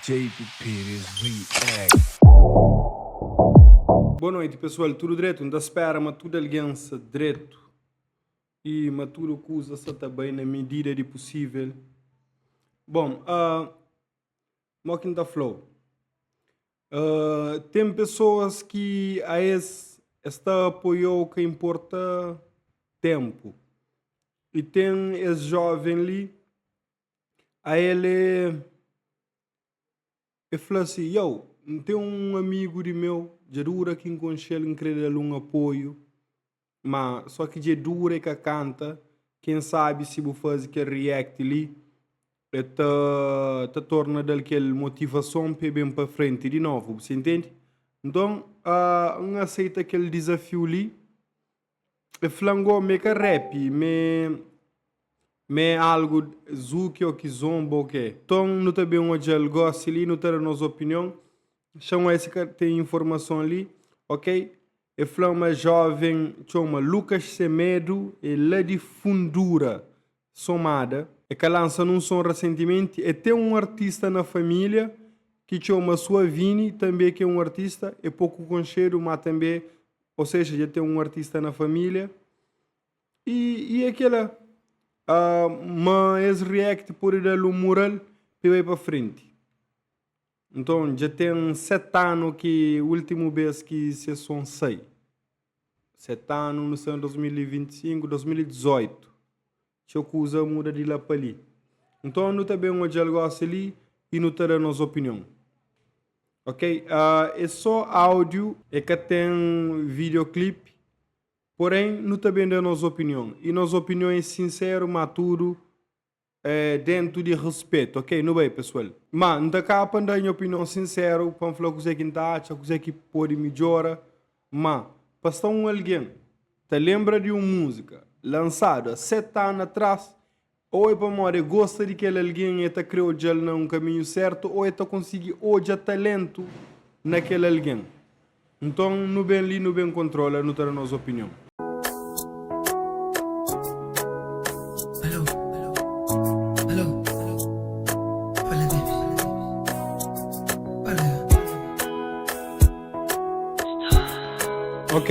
JP Pires React. Boa noite pessoal tudo dreto nta spera ma tudo alguém sa dreto e ma tudo kusa sa ta bai na medida di possível bom ah mo ki nta flau ah tem pessoas ki aes es ta apoiou ka importa tempo e tem es jovem li A el e fla si, Iau, N ten un amigu di meu, dja di ura ki N konxe-l, N krê da-l un apoiu. Má, sô ki dja di ura e ka kanta. Ken sabe si bu faze kel React li e ta ta torna da-l kel motivason pa el ben pa frenti di novu. Bu ta intende? Nton, N aseita kel dizafiu li. E fla ngó m'é ka rap m'é m'é algu zuki ó ki zonba ó k'é. Ton nu ta ben odjal gósi li nu ta da nos opinion xa nho é si ka ten informason li ok. E fla ma jóven txoma Lucas Semedo é la di fundura Somada, e ka lansa nun son rasentimenti, e ten un artista na familia ki txoma Suavini, tanbe ki e un artista, e poku konxedu ma tanbe, o sexa dja ten un artista na familia. E, e e kela. Uh, ma es react pode da-l un mural pe bai pa frenti. Nton, dja ten seti anu ki últimu bês ki ses son sai. Seti anu nu sta na 2025, 2018 txeu kuza muda di la pa li. Nton, nu ta ben odja-l gósi li i nu ta da nos opinion. Ok, é sô áudiu. É ka ten videoclipe. Porén, nu ta ben da nos opinion. I nos opinion é sinseru, má tudu É dentu di respetu. Ok, nu bai pesual. Ma, N ta ka pa N da nha opinion sinseru, pa N fla kuzé ki N ta atxa, kuzé ki pode midjora. Ma, pa sta un algen ta lenbra di un múzika lansadu a seti anu atras, ô é pamodi el gosta di kel algen i el ta krê odja-l na un kaminhu sértu, ô el ta konsigi odja taléntu na kel algen. Nton nu ben li, nu ben kontrola, nu ta da nos opinion. Ok.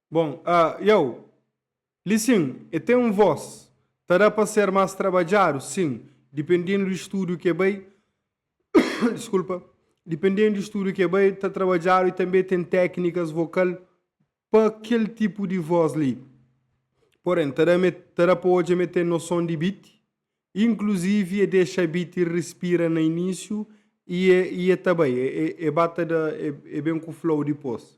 Bon, a Iau. Li sin, e ten un vos. Ta da pa ser mas trabadjadu? Sin, dipendendu di studu ke bai, diskulpa, dipendendu di studu ke bai ta trabadjadu i tanbe ten teknikas vokal pa kel tipu di vos li. Poren, ta da me, ta da pa odja me ten noson di biti, inkluzivi e dexa biti rispira na inisiu i e, i e ta bai, e, e, e ba ta da, e, e ben ku flow dipos.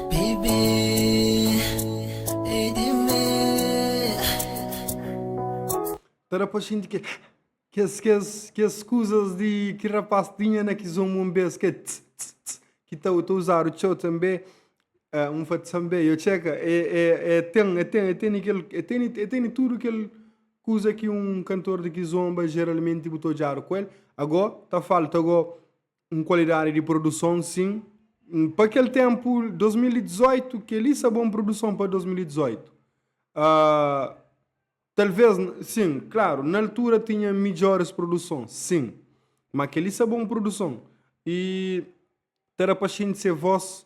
Ta da pa xinti ke kes kes kes kuzas di ki rapaz tinha na ki zon un bes ke tss tss tss ki ta ta uzadu txeu tanbe ah un fla tanbe yo txeka e e e ten e ten e teni kel e teni e teni tudu kel kuza ki un kantor di ki zon ba jeralmenti bu ta odjadu ku el ago ta falta go Un kualidadi di produson sin. Pa kel tenpu 2018 keli sa bon produson pa 2018? Ahh talvez sin, klaru na altura tinha midjoris produson sin, ma keli sa bon produson? E ta da pa xinti se vos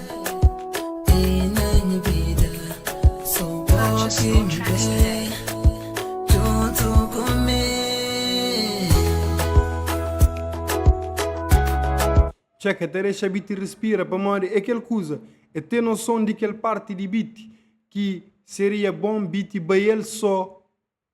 Txeu ka ta dexa biti rispira pamodi é kel kuza é ten noson di kel parti di biti ki seria bon biti bai el so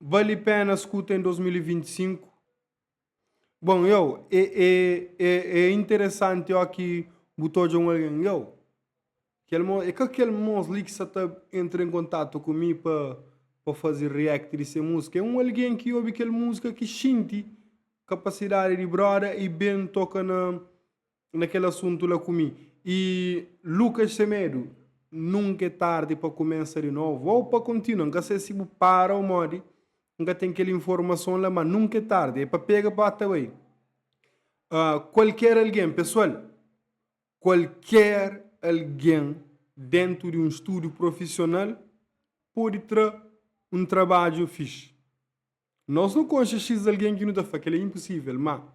Vale pena skuta en 2025? Bon, yo, e, e, e, e interesanti oki bu ta odja un algen, yo, kel mo, e ka kel mos li ki sa ta entra en kontatu ku mi pa, pa fazi react di se musika, e un algen ki obi kel musika ki xinti kapasidadi di broda i ben toka na, na kel asuntu la ku mi. I Lukas Semedo, Nunka é tardi pa kumesa di novu ô pa kontinua. N ka sai si bu para ô modi, N ka ten kel informason la, má nunka é tardi. É pa pega pa ta bai. Kualker algen, pesoal, kualker algen déntu di un studiu profisional pode tra un trabadju fixi. Nos nu konxe xis algen ki nu ta fla, Kel-li é inpusível, má.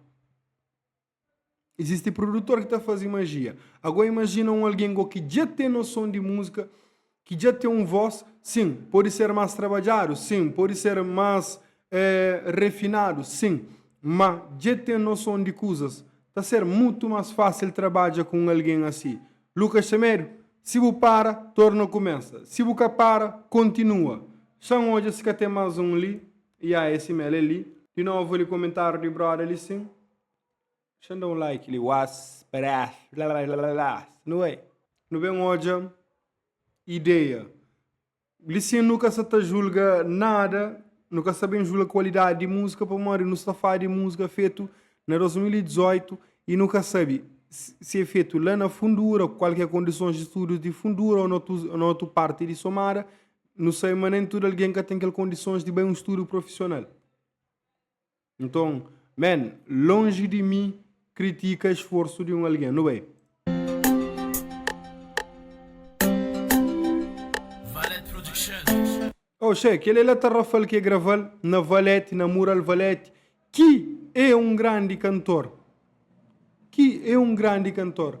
Izisti prudutor ki ta fazi majia. Agó imajina un algen gó ki dja ten noson di múzika, ki dja ten un vós, sin, pode ser más trabadjadu, sin, pode ser más eh, refinadu, sin, má dja ten noson di kuzas. Ta ser mutu más fásil trabadja ku un algen asi. Lucas Semedo, Si bu para, torna kumesa. Si bu ka para, kontinua. Xa N odja si ka ten más un li. Ya, é si mel, é li. Di novu li komentáriu di bróda li, sin. Xan da un like li was peras lalalalas nu é nu ben odja ideia li sin nu ka sa ta julga nada nu ka sa ben julga kualidadi di múzika pamodi nu sta fala di múzika fetu na 2018 y nu ka sabe si é fetu la na fundura ku kal ki é kondisons di studius di fundura o na otu parti di somada nu sabe ma nen tudu algen ka ten kel kondisons di bai un studiu profisional. Nton, man, lonji di mi kritika esforsu di un algen. Nu bai. Oxê, kel-li la ta Rafal ki e grava-l na Valete, na Mural Valete, ki e un grandi kantor. Ki e un grandi kantor.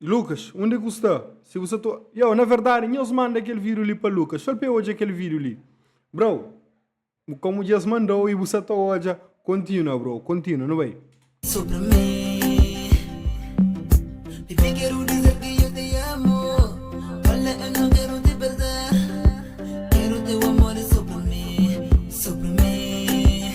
Lucas, unde ku sta? Si bu sa to. Yo, na verdade, nhos manda kel vídeo li pa Lucas. Fal pa el odja kel vídeo li. Bro, bu komu dja es mandau i bu sa ta odja, kontinua bro, kontinua, nu bai. Sobre mi Mi bem quero dizer que eu te amo Olha eu não quero te perder Quero teu amor sobre mi Sobre mi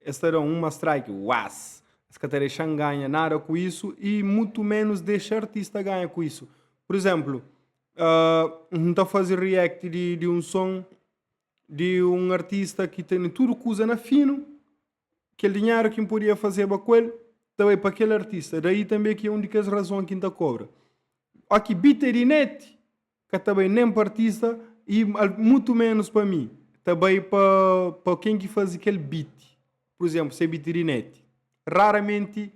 Es ta da un ma strike uaas. Es ka ta dexa-m ganha nada ku isu i mutu menus dexa artista ganha ku isu. Pur izénplu, N ta faze react di un son di un artista ki tene tudu kuza na finu, kel dinheru ki N podia fazeba ku el ta bai pa kel artista. Daí tanbê ki é un di kes razon ki N ta kobra. Óki beat é di net, Ka ta bai nen pa artista y mutu menus pa mi. Ta bai pa ken ki fazi kel beat. Pur izénplu, se é beat di neti. Raramenti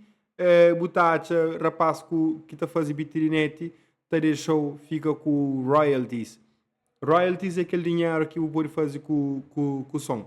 bu ta atxa rapás ki ta fazi beat di neti ta dexa-u fika ku royalties. Royalties é kel dinheru ki bu pode fazi ku son.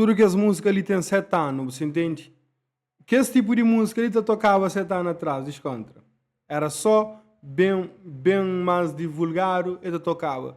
Tudu kes músika li ten 7 anu, bu sintende? Kes tipu di músika li ta tokaba 7 anu atras, diskontra. Éra sô ben, ben más divulgadu el ta tokaba.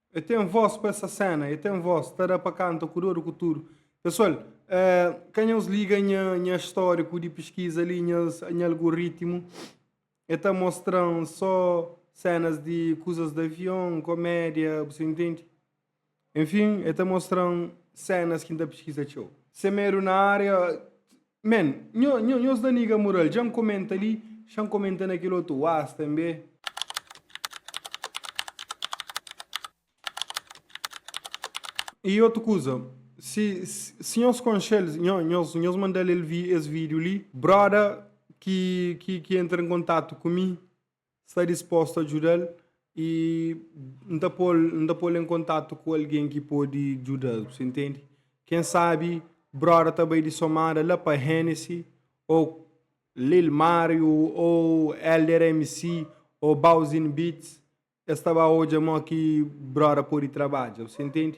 E ten voz pa essa cena, e ten voz, ta da pa canta ku doru ku tudu. Pessoal, eh, ka nhos liga nha, nha histórico di pesquisa ali, nhas, nha algoritmo, e ta mostran só cenas de coisas de avião, comédia, você entende? Enfim, e ta mostran cenas que ta pesquisa txeu. Semedo na área, Man, nho, nho, nhos da niga mural, dja N komenta li, xa N komenta na kel otu uaz tanbe. I otu kuza, si, si nhos konxe-l, nho, nhos, nhos manda-l es vídiu li. Bróda ki, ki, ki entra en kontatu ku mi, Sta dispostu a djuda-l y N ta po-l, N ta po-l en kontatu ku algen ki pode djuda-l. Bu ta intende? Ken sabi Broda ta bai di somada la pa Hennessy ô Lil Mario ô Elder MC ô Bowzin Beats, es ta ba odja mó ki Broda pode trabadja. Bu ta intende?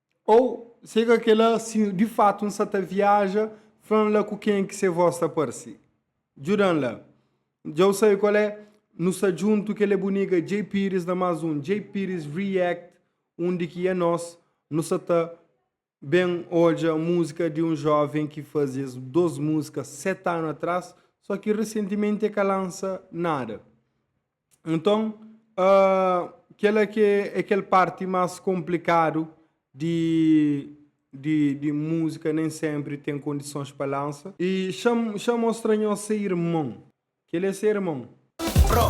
Ô se ka kel-la, si di fatu N sa ta viaja, fla-m la ku kenha ki se vós ta parse. Djuda-m la. Dja-u sabe kal é? Nu sta djuntu, kel-la é bu niga Jay Pires na más un Jay Pires React, undi ki é nos, nu sta ta ben odja múzika di un jóven ki faze es dôs múzika seti anu atrás, só ki resentimenti el ka lansa nada. Nton, kel-la ki é kel párti más konplikádu di múzika, nen sénpri ten kondisons pa lansa. I xa mostra nhos se irmon. Kel-li é se irmon. Pro.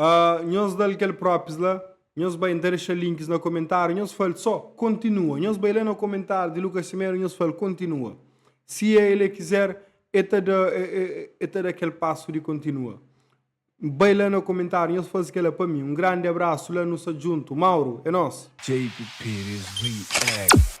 Uh, nhos dal kel própis la, nhos bai nta dexa links na komentáriu, nhos fal só kontinua. Nhos bai la na komentáriu di Lucas Simeiro, nhos fal kontinua. Si é ele quiser, é ta da, é, é, é ta da kel passo de continua. Bai lá no comentário, nós faz que ela para mim. Um grande abraço, lá nos junto. Mauro, é nós. JP Pires React.